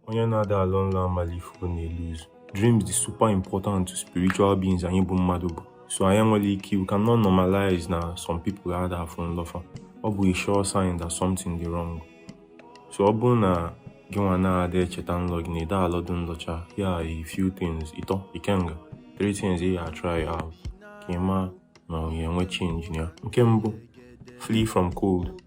onye na-ada alọ nlọ amarọ ife ọ na-elose dreams dị super important to spiritual beings anyị bụ mmadụ bụ so anyị enwerọ ike we cannot normalize na some people ada afụ nlọ fa ọ bụ a sure sign that something dị wrong so ọ bụrụ na gị nwa na-ada echeta nlọ gị na ị da alọdụ nlọ cha yeah a few things ịtọ ikenga three things ị ya try out ka ị ma na ọ ga-enwe change ya nke mbụ flee from cold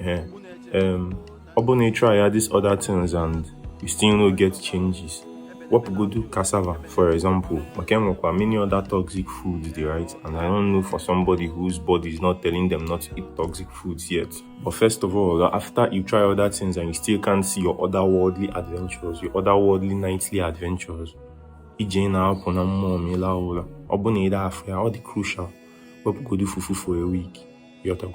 Eh, um, ọ bụrụ na ị try ya these other things and you still no get changes wepụgodu cassava for example maka e nwekwa many other toxic foods dị right and i don't know for somebody whose body is not telling them not to eat toxic foods yet but first of all after you try other things and you still can't see your otherworldly adventures your otherworldly nightly adventures ije ị na-apụ na mmụọ ma ị laa ụra ọ bụ na ị da afụ ya ọ dị crucial wepụgodu fufu for a week yọtago